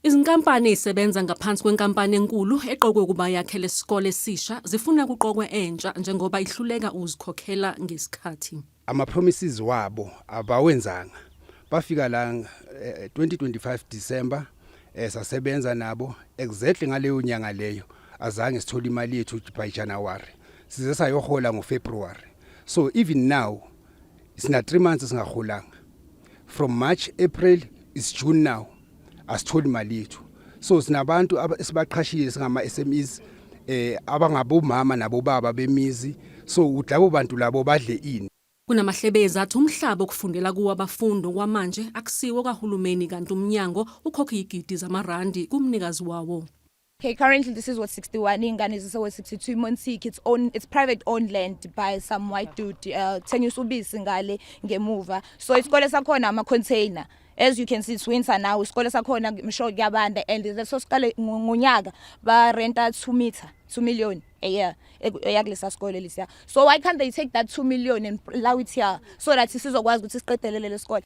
Izinkampani ezisebenza ngaphansi kwenkampani enkulu eqokwe ukuba yakhe lesikole esisha zifuna kuqokwe entsha njengoba ihluleka ukuzikhokhela ngesikhathi. Ama promises wabo abawenzanga. Bafika la eh, 2025 December eh, sasebenza nabo exactly ngaleyo nyanga leyo azange sithole imali yethu by January. Size sayohola ngoFebruary. So even now sina 3 months singaholanga. from march april is june now asitholi mali yethu so sinabantu esibaqhashile singama-smes um eh, abangabomama nabobaba bemizi so ukuthi labo bantu labo badle ini Kunamahlebezi athi umhlaba okufundela kuwo abafundi okwamanje akusiwo kahulumeni kanti umnyango ukhokha iyigidi zamarandi kumnikazi wawo. Okay, currently this is what 61 ingane zise what 62 Monsik it's own it's private owned land by some white dude uh, thengiswa ubisi ngale ngemuva so isikole sakhona ama container as you can see it's winter now isikole sakhona msho kuyabanda and leso sikole ngonyaka ba renta 2 meter 2 million a year eyakulesa sikole lesiya so why can't they take that 2 million and allow it here so that sizokwazi ukuthi siqedelele lesikole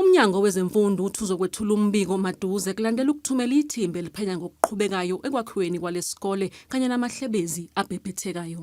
UMnyango wezeMfundo uthi uzokwethula umbiko maduze kulandela ukuthumela ithimba eliphenya ngokuqhubekayo ekwakhiweni kwalesi sikole kanye namahlebezi abhebhethekayo.